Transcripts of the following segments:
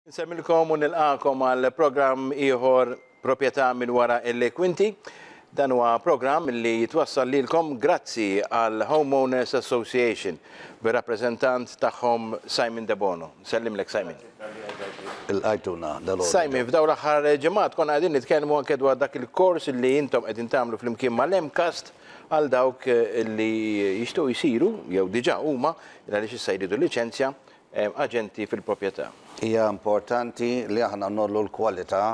Insemmilkom u nilqagħkom għal programm ieħor Proprjetà minn wara l-kwinti. Dan huwa programm li jitwassal lilkom grazzi għal Homeowners Association bir-rappreżentant tagħhom Simon Debono. Nsellimlek Simon. Ilqajtuna dalgħodu. Simon, f'dawn l-aħħar ġimgħat konna qegħdin nitkellmu anke dwar dak il-kors li intom qegħdin tagħmlu flimkien mal-MCAST għal dawk li jixtiequ jsiru jew diġà huma, għaliex issa jridu liċenzja, aġenti fil-proprjetà. Hija importanti li aħna ngħollu l-kwalità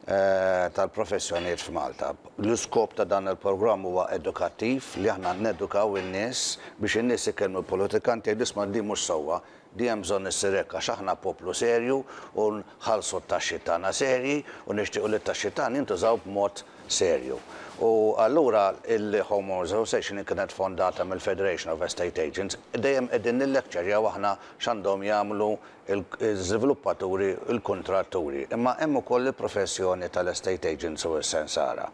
tal-professjonijiet f'Malta. L-iskop ta' dan il-programm huwa edukattiv, li aħna nedukaw in-nies biex in-nies ikellmu l-politikanti jgħidu isma' din mhux sewwa, din hemm bżonn issir hekk għax aħna poplu serju u nħallsu t-taxxi tagħna serji u nixtiequ li t-taxxi tagħna jintużaw b'mod serju. U allura il-Home Owners Association li kienet fondata mill-Federation of Estate Agents, dejjem qegħdin nillekċerjaw aħna x'għandhom jagħmlu l-żviluppaturi, il-kuntratturi. Imma hemm ukoll il-professjoni tal-estate agents u s-sensara.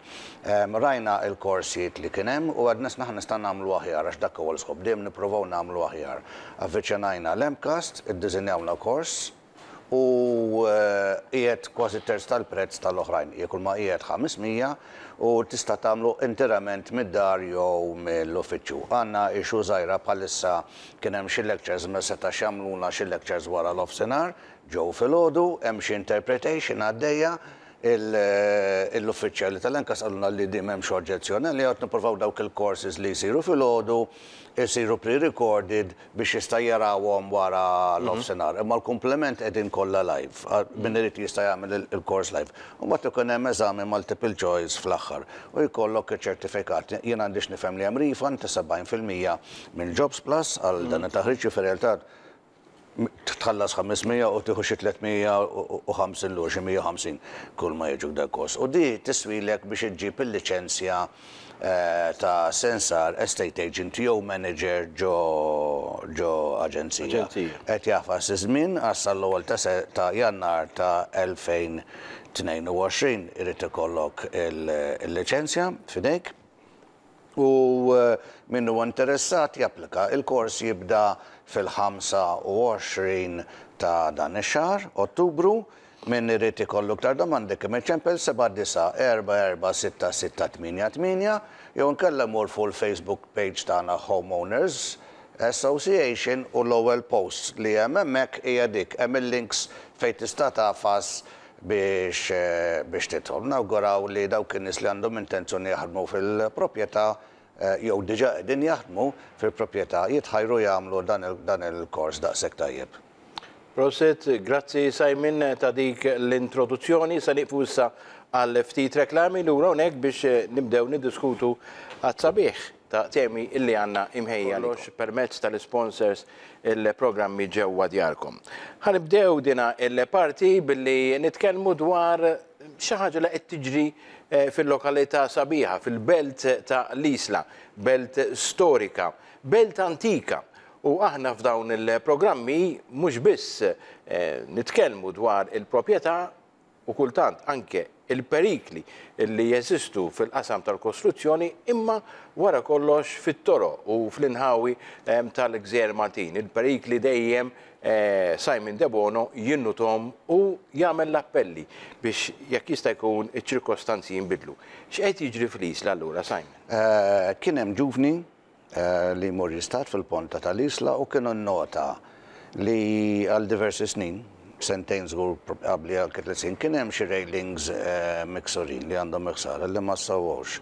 Rajna l-korsijiet li kien hemm u għedna x'naħa nista' nagħmlu aħjar għax dak huwa l-iskop, dejjem nipprovaw nagħmlu aħjar. Avviċinajna l-MCAST, iddiżinjawna kors, u qiegħed kważi terz tal-prezz tal-oħrajn, jekk huma qiegħed 500 u tista' tagħmlu interament mid-dar jew mill-uffiċċju. Għandna issue żgħira bħalissa kien hemm xi lectures ma setax jagħmlulna xi lectures wara l-offsinhar, ġew filgħodu, hemm xi interpretation għaddejja, l-uffiċjali tal-NCAS qalulna li din m'hemmx oġġezzjoni għaliha u qed nippruvaw dawk il-courses li jsiru filgħodu jsiru pre-recorded biex jista' jarahom wara l-offsinar. Imma l-kumpliment qegħdin kollha live. Min irid jista' jagħmel il-kors live. U mbagħad ikun hemm eżami multiple choice fl-aħħar u jkollok iċ-ċertifikat. Jien għandix nifhem li hemm refund ta' 70 fil-mija minn JobsPlus għal dan it-taħriġ, jiġifieri r-realtà tħallas 500 u tieħu xi 350 lura, xi 150 kulma jiġu f'dak il-kors. U din tiswilek biex iġġib il-liċenzja. ta' sensar, estate agent jew manager ġo aġenzija, qed jagħfas iż-żmien għax sal-ewwel ta' Jannar ta' 2022 irid ikollok il-liċenzja f'idejk u min huwa interessat japplika. Il-kors jibda fil-25 ta' dan ix-xahar, Ottubru. Min irid ikollu iktar domandi kemm iċempel 79446688 jew inkella jmur fuq il-Facebook page tagħna Home Owners Association u l-ewwel post li hemm hemmhekk hija dik. Hemm il-links fejn tista' tagħfas biex biex tidħol. Nawguraw li dawk in-nies li għandhom intenzjoni jaħdmu fil-proprjetà jew diġà qegħdin jaħdmu fil-proprjetà jitħajru jagħmlu dan il-kors daqshekk tajjeb. Prosit, grazzi Simon ta' dik l-introduzzjoni. Se nieqfu issa għal ftit reklami lura hawnhekk biex nibdew niddiskutu għat-sabiħ ta' temi illi għandna imħejja kollox permezz tal-isponsors il-programmi ġewwa djarkom. Ħa nibdew dina il-parti billi nitkellmu dwar xi ħaġa li qed tiġri fil-lokalità sabiħa, fil-belt ta' l-Isla, belt storika, belt antika U aħna f'dawn il-programmi mhux biss nitkellmu dwar il-proprjetà u kultant anke il-perikli li jeżistu fil-qasam tal-kostruzzjoni imma wara kollox fit-toroq u fl-inħawi tal-gżejjer Maltin. Il-perikli dejjem Simon Debono jinnuthom u jagħmel l-appelli biex jekk jista' jkun iċ-ċirkostanzi jinbidlu. X'qed jiġri fl-Isla allura Simon? Kien hemm ġuvni li jmur jistad fil-ponta tal-Isla u kien innota li għal diversi snin, sentejn żgur probabbli anke tliet snin, kien hemm xi railings miksurin li għandhom il-ħsara li ma ssawwawx.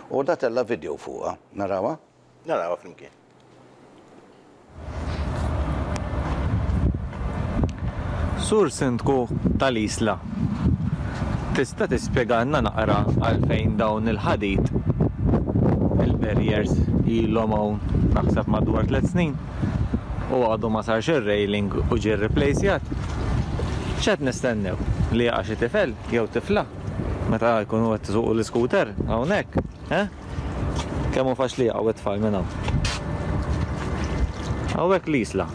U da tella' vidjow fuqha. Narawha? Narawha flimkien. Sur Sindku tal-Isla, tista' tispjegalna naqra għalfejn dawn il-ħadid, il-barriers, ilhom hawn naħseb madwar tliet snin u għadu ma sarx ir-railing u ġie rriplejsjat? X'qed nistennew? Li jaqa' xi tifel jew tifla meta jkunu qed isuqu l-iskuter hawnhekk, eh? Kemm hu faċli jaqgħu t-tfal minn hawn. Hawnhekk l-isla.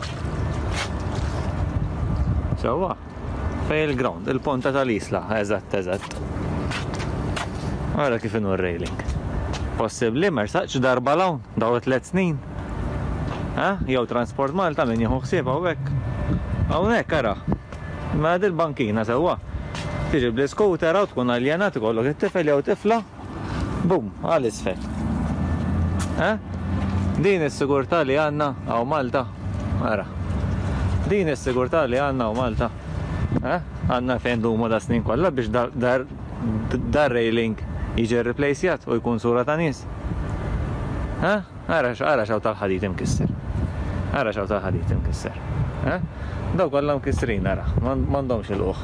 Sewwa. Fej il-ground, il-ponta tal-isla, eżatt, eżatt. Ara kif inu r-railing. Possibbli mersaqx darba l-hawn, daw tliet snin. Ha? Jew Transport Malta min jieħu ħsieb hawnhekk. Hawnhekk ara. Ma il-bankina sewwa. Tiġi bl-iskutera u tkun aljenat ikollok it-tifel jew tifla Bum, għal isfel. Eh? Din is-sigurtà li għandna għaw Malta. Ara. Din is-sigurtà li għandna għaw Malta. Eh? Għandna fejn dumu da snin kollha biex dar railing jiġi replacjat u jkun sura ta' nies. Eh? Ara, ara x'hawn tal-ħadid imkisser. Ara x'hawn tal-ħadid imkisser. Eh? Daw kollha mkissrin ara, m'għandhomx il-qoħ.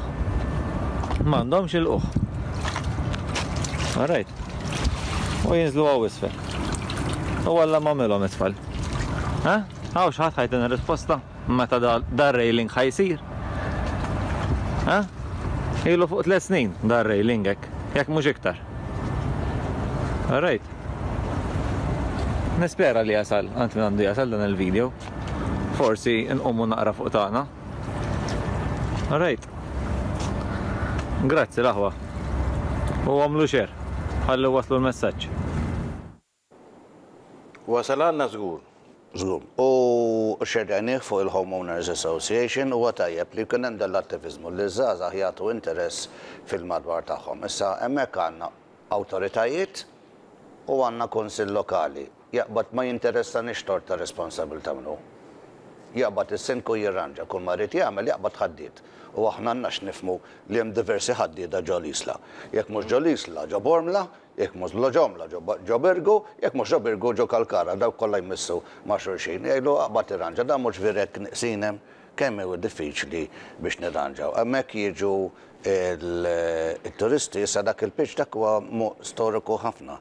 M'għandhomx il-qoħ. Alright. U jinżlu għaw isfel. U għalla mamilhom isfel. Eh? Għaw xħat ħajtin risposta meta dar railing ħajsir. Eh? Ilu fuq tliet snin dar railing hekk, jekk mhux iktar. Alright. Nispera li jasal, għant minn għandu jasal dan il-video. Forsi nqommu naqra fuq tagħna. Alright. Grazzi l-aħwa. U għamlu xer. Ħallu waslu l-messaġġ. Wasal għandna żgur. Żgur. U xerrejnih fuq il-Home Owners Association, huwa tajjeb li jkun hemm dan l-attiviżmu, li ż-żgħażagħ jagħtu interess fil-madwar tagħhom. Issa, hemmhekk għandna awtoritajiet u għandna Kunsill Lokali. Jaqbad ma jinteressanix tort ta' responsabilità min hu. Jaqbad is-Sindku jirranġa kull ma jrid jagħmel, jaqbad ħaddied. U aħna għandna x'nifhmu li hemm diversi ħaddieda ġo l-Isla. Jekk mhux ġo l-Isla, ġo Bormla, Jekk mhux Lo Jomla, ġo Birgu, jekk mhux ġo Birgu, ġo Kalkara, dawk kollha jmissu ma' xulxin. Jgħidlu aqbad irranġa, dan mhux vireg nieqsin hemm? Kemm hu diffiċli biex nirranġaw. Hemmhekk jiġu t-turisti, issa dak il-pitch dak huwa storiku ħafna.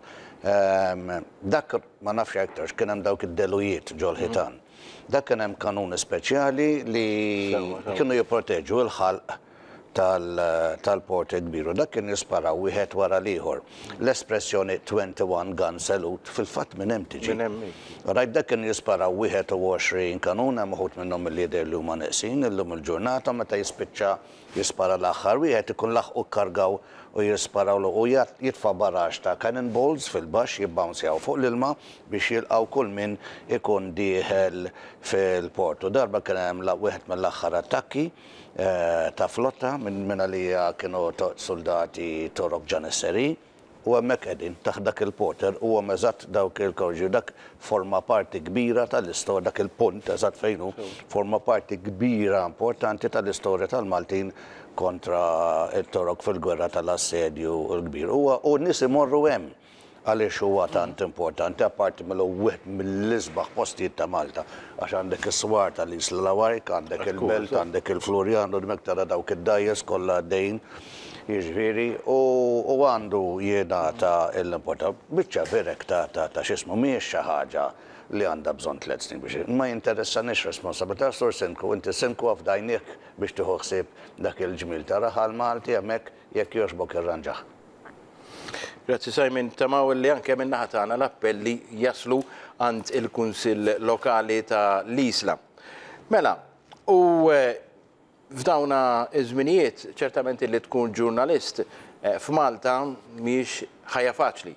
Dak ma nafx jekk għidtux, kien hemm dawk id-delujiet ġol-ħitan. Dak kien hemm kanuni speċjali li kienu jipproteġu l-ħalq. tal-Porter Kbir u dak kien jisparaw wieħed wara l-ieħor. L-espressjoni 21 gun salute fil-fatt minn hemm tiġi. Minn hemm hi. Rajt dak kien jisparaw 21 kanun hemm uħud minnhom milli jidher li huma neqsin illum il-ġurnata meta jispiċċa jispara l-aħħar wieħed ikun laħqu kkargaw u jisparawlu u jitfa' barrage ta' cannon balls fil-baxx jibbawnzjaw fuq l-ilma biex jilqgħu kull min ikun dieħel fil-port u darba kien hemm wieħed mill-aħħar attakki ta' flotta minn minn għalija kienu soldati Torok Ġanisseri u hemmhekk qegħdin taħt dak il-poter u hemm eżatt dawk il-kawġi u dak forma parti kbira tal-isto dak il-punt eżatt fejn hu forma parti kbira importanti tal-istorja tal-Maltin kontra t-Torok fil-gwerra tal-assedju l-kbir. Huwa u n-nies imorru hemm. Għaliex huwa tant importanti, apparti milli hu wieħed mill-isbaħ postijiet ta' Malta? Għax għandek is-swar tal-Isla Lawajk, għandek il-Belt, għandek il-Flurjana u dmek tara dawk id-dgħajjes kollha għaddejjin, jiġifieri, u għandu jingħata l-importanza. Biċċa birek ta' ta' x'ismu, mhijiex xi ħaġa li għandha bżonn tliet snin biex. Ma jinteressanix responsabbiltà, Sur Sindku, inti Sindku ha f'dgħajnejk biex tieħu ħsieb dak il-ġmiel ta' raħal Malti hemmhekk, jekk jogħġbok irranġah. Grazzi Simon, nittamaw li anke min-naħa tagħna l-appelli jaslu għand il-Kunsill Lokali ta' l-Isla. Mela, u eh, f'dawna iż-żminijiet ċertament li tkun ġurnalist eh, f'Malta mhijiex ħajja faċli.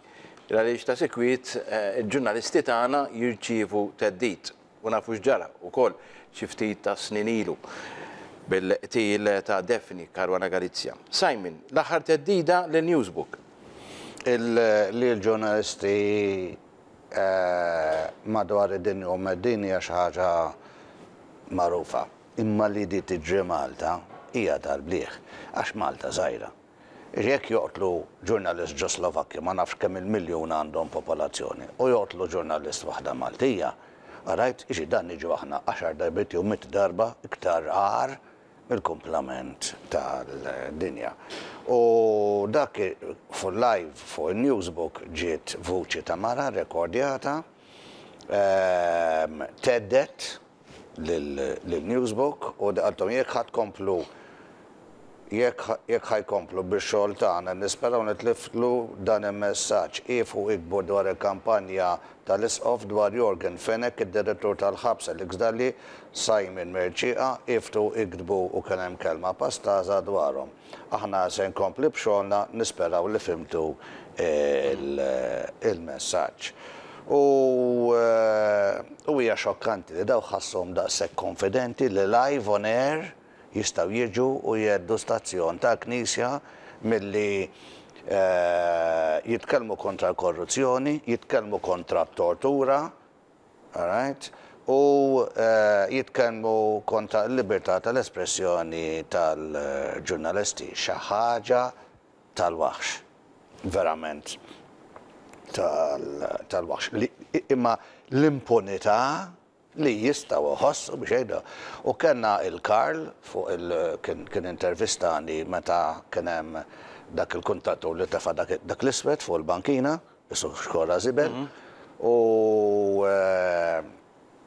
Għaliex ta' sikwit eh, il-ġurnalisti tagħna jirċievu theddid. U nafu x'ġara wkoll xi ftit tas-snin ilu bil-qtil ta' Daphne Caruana Galizia. Simon, l-aħħar theddida lil Newsbook. Li l-ġurnalisti madwar id-dinja u mheddin hija xi ħaġa magħrufa, imma li di tiġri Malta hija tal-bliegħ għax Malta żgħira. Jekk joqtlu ġurnalist Ġoslovakkju ma nafx kemm il-miljun għandhom popolazzjoni u joqtlu ġurnalist waħda Maltija, rajt xi danni ġew aħna għaxar darbiet jew mitt darba iktar agħar mill-kumplament tal-dinja. U dak fuq live fuq in-newsbook ġiet vuċi ta' mara rekordjata, thedded. lil Newsbook u qaltilhom jekk ħa tkomplu jekk ħa jkomplu bix-xogħol tagħna nisperaw nitliflu dan il-messaġġ, iefgħu iktbu dwar il-kampanja tal-Isqof dwar Yorgen Fenech, id-Direttur tal-Ħabs Alex Dalli, Simon Mercieca, iefgħu iktbu u kien hemm kelma pastaża dwarhom. Aħna se nkompli b'xogħolna, nisperaw li fhimtu l-messaġġ. U u hija xokkanti li dawk ħassuhom daqshekk konfidenti li live on air jistgħu jiġu u jheddu stazzjon tal-Knisja milli jitkellmu kontra l-korruzzjoni, jitkellmu kontra t-tortura, Alright. U jitkellmu konta l-libertà tal-espressjoni tal-ġurnalisti. Xi ħaġa tal-waħx. Verament tal-waħx. Imma l-impunità li jistgħu jħossu biex jgħidu. U kellna il Karl fuq il kien intervistani meta kien hemm dak il-kuntatur li tefa' dak l-iswed fuq il-bankina. Is-Sur Xkorra Zibel, u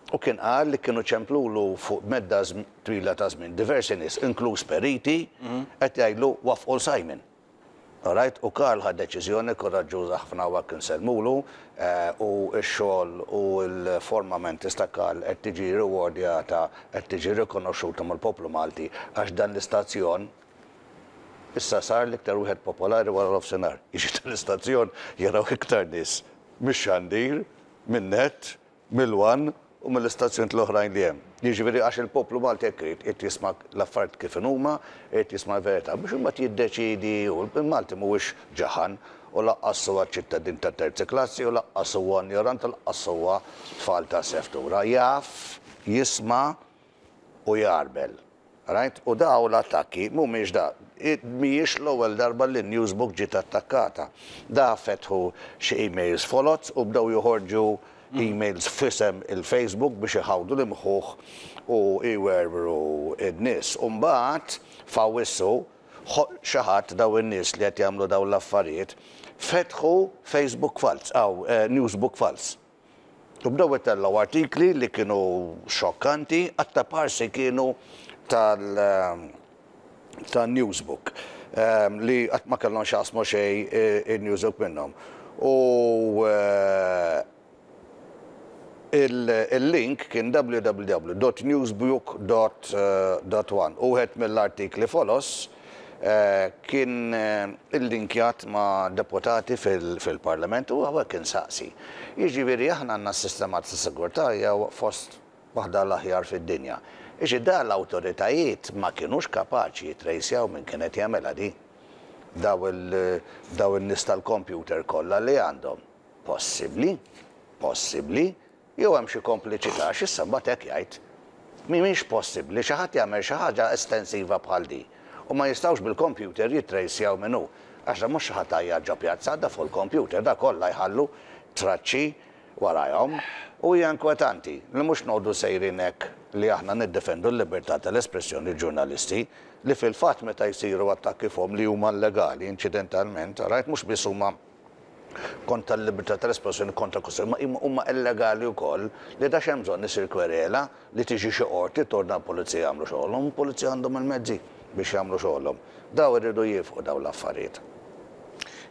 u kien qal li kienu ċemplulu fuq medda twila ta' żmien diversi nies, inkluż periti, qed jgħidlu waffqu 'l Simon. Alright, u Karl ħa deċiżjoni kuraġġuża ħafna u hekk insellmulu, u x-xogħol u l-forma mentis ta' Karl qed tiġi riwordjata, qed tiġi rikonoxxuta mill-poplu Malti għax dan l-istazzjon, Issa sar l-iktar wieħed popolari wara nofsinhar. Jiġi tal-istazzjon jaraw iktar nies mix-xandir, min-nett, mill-one u mill-istazzjonijiet l-oħrajn li hemm. Jiġifieri għax il-poplu Malti hekk irid, irid jisma' l-affarijiet kif inhuma, irid jisma' l-verità biex imbagħad jiddeċiedi hu. Il-Malti mhuwiex ġaħan u lanqas huwa ċittadin ta' terzi klassi u lanqas huwa injorant u lanqas huwa tfal ta' seftura. Jaf, jisma'. u jgħarbel. Rajt? U dawn l-attakki mhumiex da. Mhijiex l-ewwel darba li Newsbook ġiet attakkata. Da fetħu xi emails foloz u bdew joħorġu emails f'isem il-Facebook biex iħawdu l-imħuħ u jwerwru n-nies. U mbagħad f'Awwissu xi ħadd, dawn in-nies li qed jagħmlu dawn l-affarijiet, fetħu Facebook falz, Newsbook falz. U bdew itellgħu artikli li kienu xokkanti, aktar b'ħarsi kienu tal tan-Newsbook, li qatt ma kellhom x'jaqsmu xejn in-Newsbook minnhom. U il-link kien www dot newsbook dot one u wieħed mill-artikli foloz, kien illinkjat ma' deputati fil-Parlament u hawnhekk insaqsi. Jiġifieri aħna għandna s-sistema ta' sigurtà hija fost waħda l-aħjar fid-dinja. Jiġifieri da l-awtoritajiet ma kinux kapaċi jittrejsjaw min kien qed jagħmilha di? Daw in-nies tal-kompjuter kollha li għandhom? Possibbli. Possibbli. Jew hemm xi kompliċità għax issa mbagħad hekk jgħid, Mhimiex possibbli xi ħadd jagħmel xi ħaġa estensiva bħal din u ma jistgħux bil-kompjuter jittrejsjaw min hu għax dan mhux xi ħadd għajjat ġo pjazza għadda fuq il-kompjuter da kollha jħallu traċċi warajhom u hija inkwetanti li mhux noqogħdu sejrin hekk li aħna niddefendu l-libertà tal-espressjoni l-ġurnalisti li fil-fatt meta jsiru attakki fuqhom li huma llegali inċidentalment rajt mhux biss huma kontra l-libertà tal-espressjoni kontra Costello, ma huma huma illegali wkoll li ta' x'hemm bżonn isir kwerela li tiġi xi qorti tordna l-pulizija jagħmlu xogħolhom, il-pulizija għandhom il-mezzi biex jagħmlu xogħolhom. Daw iridu jiefqu dawn l-affarijiet.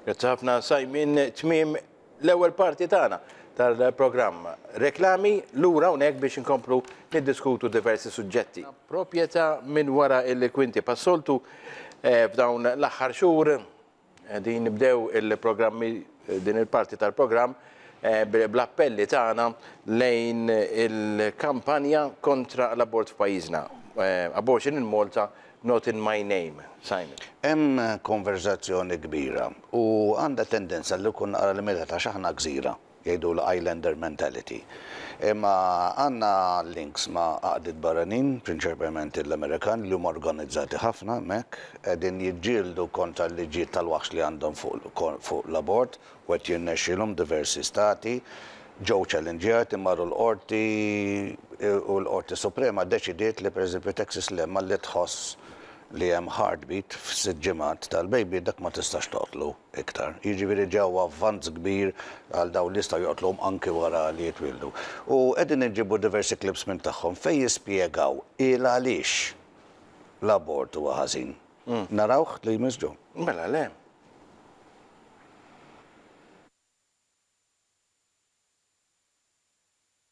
Grazzi ħafna Simon, tmiem l-ewwel parti tagħna tal-programm Reklami, lura hawnhekk biex inkomplu niddiskutu diversi suġġetti. Proprjetà minn wara il-kwinti pas-soltu f'dawn l-aħħar xhur Qegħdin nibdew il-programmi din il-parti tal-programm bl-appelli tagħna lejn il-kampanja kontra l-abort f'pajjiżna. Abortion in Malta, not in my name. Simon. Hemm konverżazzjoni kbira u għandha tendenza li jkun naqra l-imgħedha ta' x'aħna gżira. Jgħidulha islander mentality. Imma għandna links ma' għaqdiet barranin, prinċerpement l-Amerikan, li huma organizzati ħafna hemmhekk, qegħdin jiġġieldu kontra l-liġijiet tal-waħx li għandhom fuq l-abort u qed jirnexxilhom diversi stati. Ġew ċallinġjati, marru l-Qorti u l-Qorti Suprema ddeċidiet li pereżempju Texas Lemma li tħoss li hemm heartbeat f'sitt ġimgħat tal-baby dak ma tistax toqtlu. iktar. Jiġifieri ġew avvanz kbir għal dawn li jistgħu joqtluhom anki wara li jitwieldu. U qegħdin inġibu diversi clips minn tagħhom fejn jispjegaw il-għaliex l-abort huwa ħażin. Narawh li jmiss John? Mela le.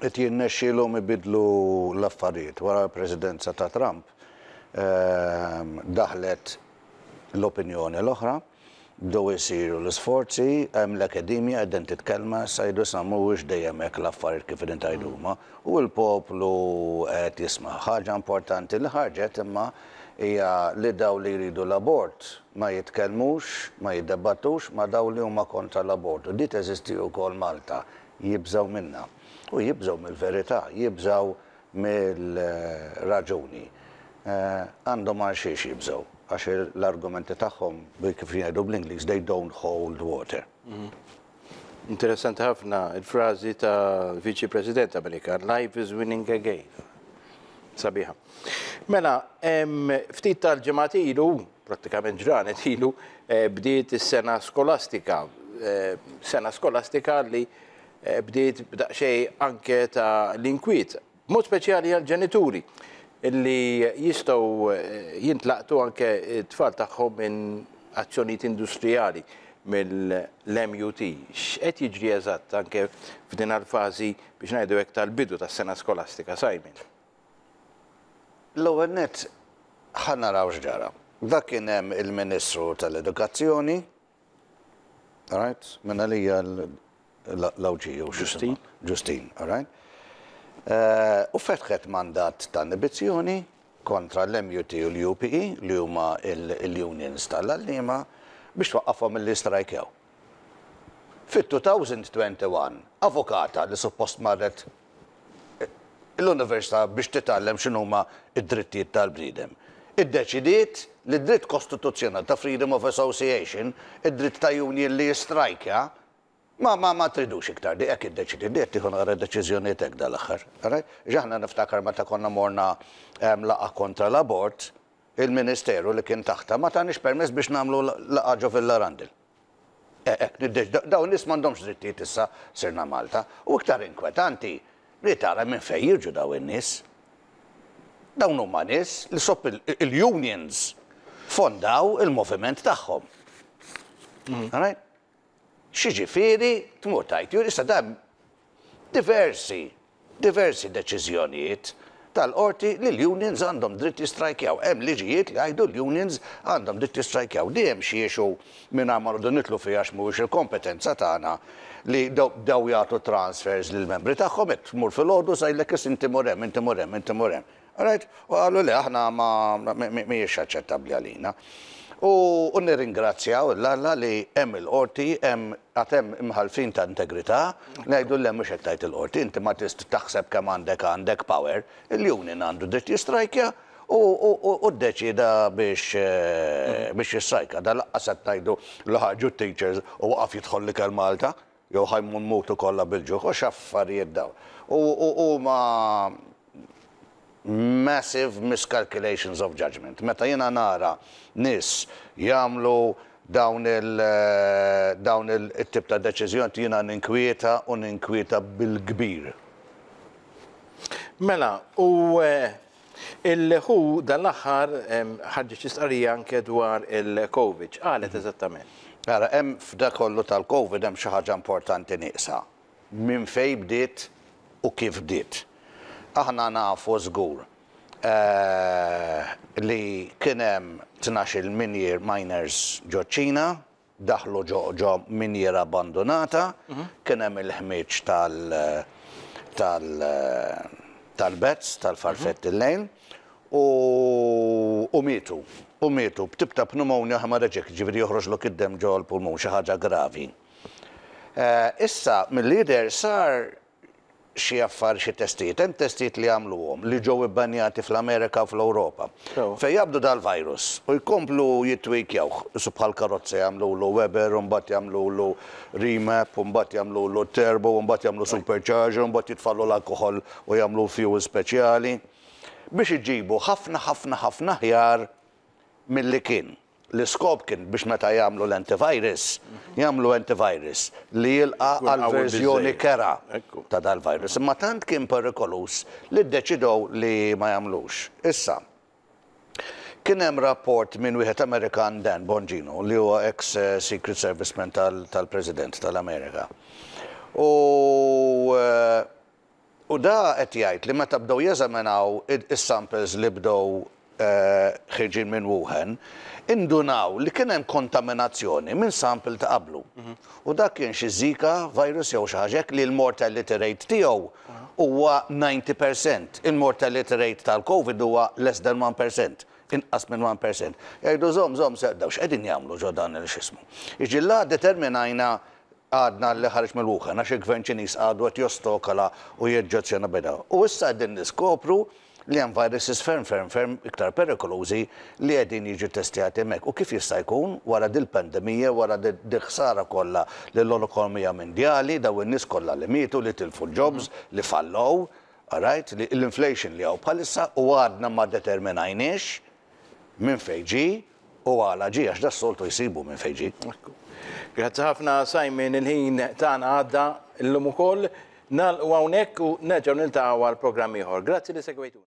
qed jirnexxilhom ibiddlu l-affarijiet. Wara l-Presidenza ta' Trump daħlet l-opinjoni l-oħra, bdew isiru l-isforzi, hemm l-Academia qegħdin titkellma, issa jgħidu isma' mhuwiex dejjem hekk l-affarijiet kif qegħdin tgħidu huma, u l-poplu qed jisma'. Ħaġa importanti li ħarġet imma hija li dawk li jridu l-abort ma jitkellmux, ma jiddebattux ma' dawk li huma kontra l-abort u di teżisti wkoll Malta, Jibżgħu minnha. U jibżgħu mill-verità, jibżgħu mir-raġuni. Għandhom għalxiex jibżgħu, għax l-argumenti tagħhom, kif jgħidu bl-Ingliż, they don't hold water. Interessanti ħafna l-frażi ta' Viċi President Amerikan, life is winning again. Sabiħa. Mela, ftit tal-ġimgħat ilu, prattikament ġranet ilu, eh, bdiet is-sena skolastika. Eh, sena skolastika li eh, bdiet b'daqxej anke ta' l-inkwiet, mod speċjali għal-ġenituri li jistaw jintlaqtu anke t-tfal tagħhom minn azzjonijiet industrijali mill-MUT. X'qed jiġri eżatt anke f'din għal-fażi biex ngħidu hekk tal-bidu tas-sena skolastika, Simon? L-ewwel nett ħa naraw x'ġara. Dak kien hemm il-Ministru tal-Edukazzjoni, alright, minn għalija l-Għawdxija u x'isima, Ġustin, alright, u fetħet mandat ta' inibizzjoni kontra l-MUT u l-UPE li huma l-unions tal-għalliema biex twaqqafhom milli jistrajkjaw. Fit-2021, avukata li suppost marret l-Università biex titgħallem x'inhuma d-drittijiet tal-bniedem, iddeċidiet li d-dritt kostituzzjonali ta' freedom of association, id-dritt ta' union li jistrajkja, ma ma ma tridux iktar dik, hekk iddeċidiet, dik qed tieħu naqra deċiżjonijiet hekk dal-aħħar, all right? Għax aħna niftakar meta konna morna laqgħa kontra l-abort, il-Ministeru li kien taħtha ma taniex permess biex nagħmlu laqgħa ġo Villa Randall. E'e, niddex, dawn in-nies m'għandhomx drittijiet issa sirna Malta. U iktar inkwetanti li tara minn fejn jiġu dawn in-nies. Dawn huma nies li sop il-unions fondaw il-moviment tagħhom. Alright? X'jiġifieri tmur tgħid, issa dan diversi, diversi deċiżjonijiet tal-qorti li l-unions għandhom dritt jistrajkjaw. Hemm liġijiet li jgħidu l-unions għandhom dritt jistrajkjaw. Di hemm xi issue mingħajr ma noqogħdu nidħlu fiha għax mhuwiex il-kompetenza tagħna li bdew jagħtu transfers lill-membri tagħhom, hekk tmur filgħodu sa jgħidlek is inti mur hemm, inti mur hemm, inti mur hemm. Alright? U qalu, Le, aħna ma, mhijiex aċċettabbli għalina. U, u nirringrazzjaw lil Alla li hemm il-Qorti, hemm, għad hemm imħallfin ta' integrità, ngħidu, Le, mhux hekk tgħid il-Qorti, inti ma tist taħseb kemm għandek għandek power, il-union għandu dritt jistrajkja u, u, u, u ddeċieda biex, biex jistrajka. Dan laqqas qed ngħidu li ħarġu t-teachers u waqaf jidħol l-ikel Malta. Jew ħa nmutu kollha bil-ġuħ, u x'affarijiet dawn. U huma massive miscalculations of judgement. Meta jiena nara nies jagħmlu dawn il, dawn it-tip ta' deċiżjoniet jiena ninkwieta u ninkwieta bil-kbir. Mela, u Il-who dan l-aħħar ħarġet xi stqarrija anke dwar il-Covid. X'qalet eżattament? Ara, hemm f'dak kollu tal-Covid hemm xi ħaġa importanti nieqsa. Minn fejn bdiet u kif bdiet. Aħna nafu żgur li kien hemm tnax-il minier miners ġoċ-Ċina. Daħlu ġo minjiera abbandunata, kien hemm il-ħmieġ tal-bats, tal-farfetti l-lejl, u mietu. U mietu b'tip ta' pneumonia hemorrhagic, jiġifieri joħroġlok id-demm ġo l-pulmun, xi ħaġa gravi. Issa, mill-li jidher sar xi affar xi testijiet. Hemm testijiet li għamluhom li ġew ibbanjati fl-Amerika u fl-Ewropa. Sewwa. Fejn jaqbdu dal-virus u jkomplu jittwikjawh. Issu bħal karozza jagħmlulu Weber u mbagħad jagħmlulu Remap u mbagħad jagħmlulu Turbo u mbagħad jagħmlu Supercharger u mbagħad jitfagħlu l-alkoħol u jagħmlu fuel speċjali. Biex iġibu ħafna ħafna ħafna aħjar milli kien. L-iskop kien biex meta jagħmlu l-antivirus, jagħmlu antivirus li jilqa' għall-verżjoni kerha ta' dal-virus. Imma tant kien perikoluż li ddeċidew li ma jagħmlux. Issa, kien hemm rapport minn wieħed Amerikan Dan Bongino li huwa eks Secret Serviceman tal-President tal-Amerika. U U da qed jgħid li meta bdew jeżaminaw is-samples li bdew ħirġin minn Wuhan, indunaw li kien hemm kontaminazzjoni minn sample ta' qablu. U dak kien xi Zika virus jew xi ħaġa hekk li l-mortality rate tiegħu huwa ninety percent. Il-mortality rate tal-Covid huwa less than one percent, inqas minn one percent. Jgħidu żomm, żomm, se, dawn x'qegħdin jagħmlu ġo dan il-x'ismu. Jiġi la determinajna għadna li ħareġ mill-Wuhan għax il-Gvern Ċiniż għadu qed jostokola u joġġezzjona beda. U issa qegħdin niskopru li hemm viruses ferm ferm ferm iktar perikolużi li qegħdin jiġu ttestjati hemmhekk. U kif jista' jkun wara dil-pandemija, wara dil-ħsara kollha lill-ekonomija mindjali, dawn in-nies kollha li mietu, li tilfu l-jobs, li fallow, alright, li l-inflation li hawn bħalissa u għadna ma determinajniex minn fejn ġie, U għala ġie? Għax das-soltu jsibu minn fejn ġie. Ekku. Grazzi ħafna Simon, il-ħin tagħna għadda llum ukoll. Nagħlqu hawnhekk u nerġgħu niltaqgħu għal programm ieħor. Grazzi li segwejtuna.